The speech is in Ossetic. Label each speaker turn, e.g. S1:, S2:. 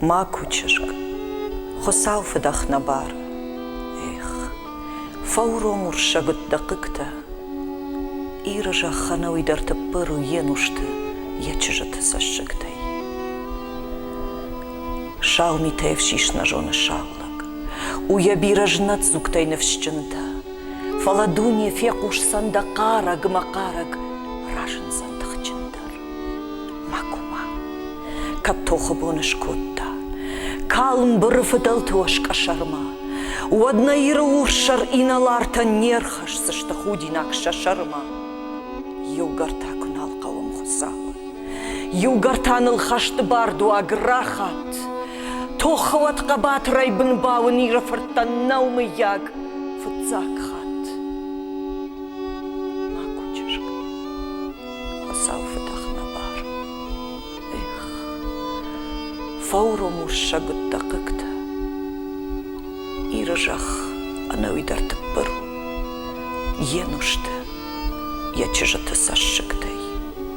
S1: Макуы чызг, Хуыцау фыдӕх нӕ бар. Эх, фӕуром уырсӕгуыт дӕ хъыгтӕ. Иры зӕххӕн ӕуый дӕр тыппыр у йе нусты, йӕ чызджыты цӕссыгтӕй. Сау митӕй ӕфсис нӕ зоны сау лӕг. У йӕ бирӕ знӕддзугтӕй ныфсджындӕр. Фӕлӕ дуне фехъусдзӕн дӕ хъарӕг-мӕхъарӕг, разындзӕн тыхджындӕр. Макума, кӕд тохы бон скодта, калм быры фыдӕлты оскъӕсӕрмӕ, уӕд нӕ Иры урссӕр инӕлартӕн не рхӕсдзысты худинаг сӕ сӕрмӕ. Иугӕр та куы нал хъӕуӕм Хуыцауы, Иугӕр та ныл хӕсты бардуаг рахат. Тохы уӕд хъӕбатырӕй бын бауын Иры фырттӕн нӕу мыййаг фыццаг хатт. Макуы чызг, хуыцау фыдӕх нӕ бар. Эх, фӕуром уссӕг уыдтӕ хъыгтӕ. Иры зӕхх ӕнӕуи дӕр тыппыр у. Йе нусты, йӕ чызджыты цӕссыгтӕй.